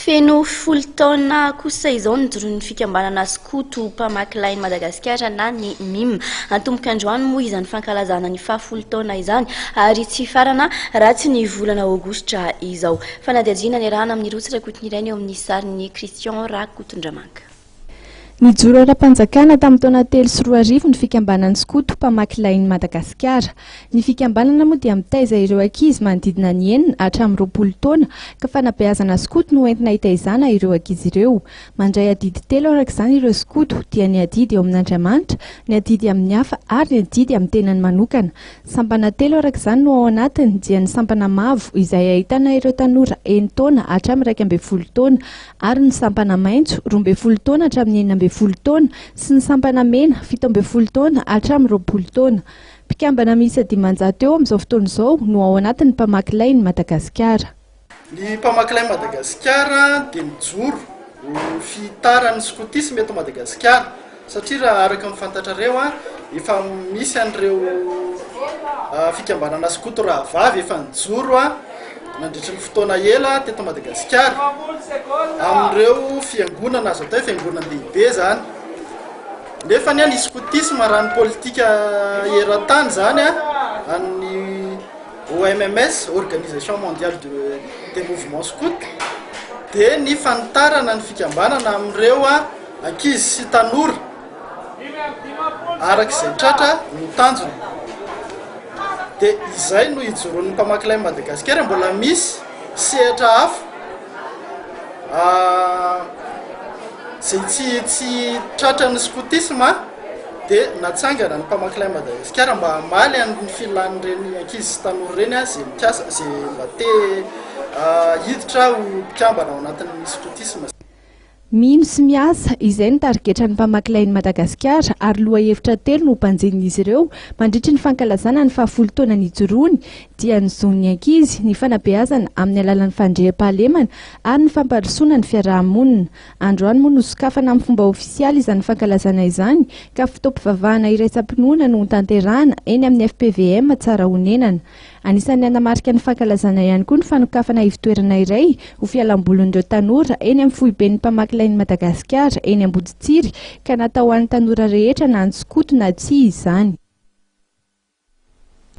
Feno folo taona kosa izao ny joron'ny fikambanana skoto mpamaky lahin'i Madagasikara na ny mim. Antomboka androany moa izany fankalazana ny faha folo taona izany ary tsy hifarana raha tsy ny volana aogositra izao. Fanadihadiana niarahana amin'ny roa tsirakotiny ireny eo amin'ny sarin'i Christian Rakotondramanka. Nijoro ara-panjakana tamin'ny taona telo sy roa arivo ny fikambanan'i Skoto, mpamaky lain'i Madagasikara. Ny fikambanana moa dia mitaiza ireo ankizy manodidina ny enina hatramin'ny roapolo taona, ka fanabeazana skoto no entina hitaizana ireo ankizy ireo. Mandray adidy telo araka izany ireo skoto, dia ny adidy eo amin'Andriamanitra, ny adidy amin'ny hafa ary ny adidy amin'ny tenany manokana. Sampana telo araka izany no ao anatiny, dia ny sampana mavo izay ahitana ireo tanora enin-taona hatramin'ny iraika ambin'ny folo taona, ary ny sampana maitso, roa ambin'ny folo taona hatramin'ny enina ambin'ny folo taona, sy ny sampana mena, fito ambin'ny folo taona hatramin'ny roapolo taona. Mpikambana miisa dimanjato eo amin'izao fotoana izao no ao anatin'ny mpamaky lain'i Madagasikara. Ny mpamaky lain'i Madagasikara dia mijoro ho fihitaran'ny skotisma eto Madagasikara. Satria raha araka ny fantatrareo, efa misy an'ireo fikambanana skoto rahavavy efa nijoro nandritry ny fotoana ela teto Madagasikara, amin'ireo fiangonana azo atao hoe fiangonan-dehibe izany. Nefa anie ny skotisma raha ny politika eran-tany izany an'ny OMMS, Organisation Mondiale des Mouvements Scouts, dia ny fanitarana ny fikambanana amin'ireo Ankizy sy tanora, araka izay tratra no tanjona. Dia izay no ijoroan'ny mpamaky Lay Madagasikara, mbola misy sehatra hafa izay tsy tsy tratran'ny skotisma dia natsangana ny mpamaky Lay Madagasikara mba hamaly an'ny filan'ireny ankizy sy tanora ireny izay mikasa, izay mba te hiditra ho mpikambana ao anatin'ny skotisma. Mino sy miasa, izay no tarigetran'ny mpamaky Lain'i Madagasikara ary lohahevitra telo no hobanjinin'izy ireo mandritry ny fankalazana ny fahafolo taona nijoroany dia ny zon'ny ankizy, ny fanabeazana amin'ny alalan'ny fandriampahalemana ary ny fampandrosoana ny fiaraha-monina. Androany moa no sokafana amin'ny fomba ofisialy izany fankalazana izany ka fotoam-pivavahana iraisam-pinoana no hotanterahana eny amin'ny FPVM Tsarahonenana. Anisan'ny hanamarika ny fankalazana ihany koa ny fanokafana ivotoerana iray ho fialambolin'ireo tanora eny amin'ny foiben'ny mpamaky lain'i Madagasikara eny Amboditsiry ka natao ho an'ny tanora rehetra na ny skoto na tsia izany.